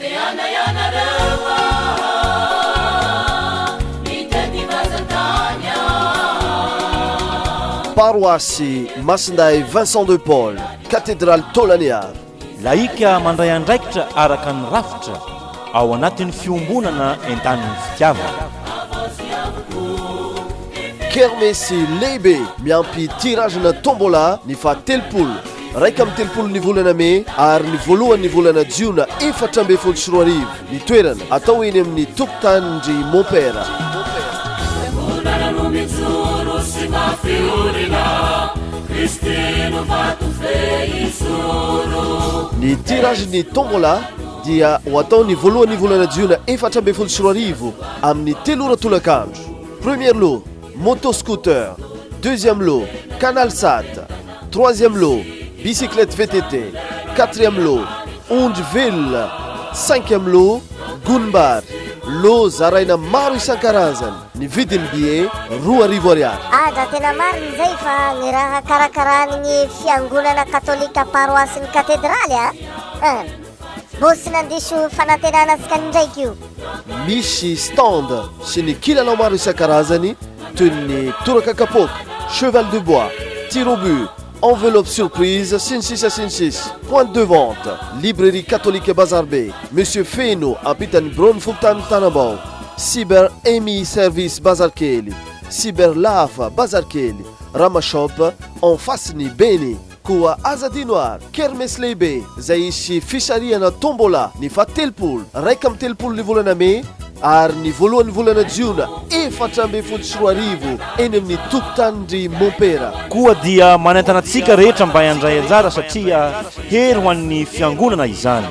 Te handray ianareo aho Mitety vazan-tany aho. Paroasy Masindahy Vincent de Paul, Katedraly Tôlanea. Laika mandray andraikitra araka ny rafitra ao anatin'ny fiombonana entanin'ny fitiavana. Kermesy lehibe miampy tirage-na Tombola ny faha telopolo. Iraika amby telopolo ny volana Mey ary ny voalohan' ny volana Jiona efatra ambin'ny folo sy roa arivo ny toerana atao eny amin' ny tokotanin-dry Mompera. Ny tirage ny tombola dia ho atao ny voalohan'ny volana jiona efatra ambin'ny folo sy roa arivo amin'ny telo ora tolakandro. Premier lot. Moto scooter, deuxième lot, canal sat, troisième lot, bicyclette VTT, quatrième lot, ondry velona, cinquième lot, gonim-bary. Lot zaraina maro isan-karazany. Ny vidin'ny billet, roa arivo ariary. Aja tena marina izay fa ny raha karakaranin'ny fiangonana katolika paroasin'ny katedraly a! Bosy nandiso fanantenana antsika indraiky io. Misy stand sy ny kilalao maro isan-karazany toy ny toraka kapoaka, cheval de bois, tir au but, enveloppe surprise sy ny sisa sy ny sisa. Point de vente, librairie catholique Bazarbe, Monsieur Feno ampitan'ny biraon'ny fokontany Tanambao, Cyber Emi service Bazarikely, Cyber Lafa Bazarikely, Rama shop en face ny Beni. Koa aza adino ary kermesy lehibe izay hisy fisarihana tombola ny fahatelopolo, iraika amby telopolo ny volana mey ary ny voalohan'ny volana jiona efatra ambin'ny folo sy roa arivo eny amin'ny tokotanin-dry Mompera. Koa dia manentana antsika rehetra mba handray anjara satria hery ho an'ny Fiangonana izany.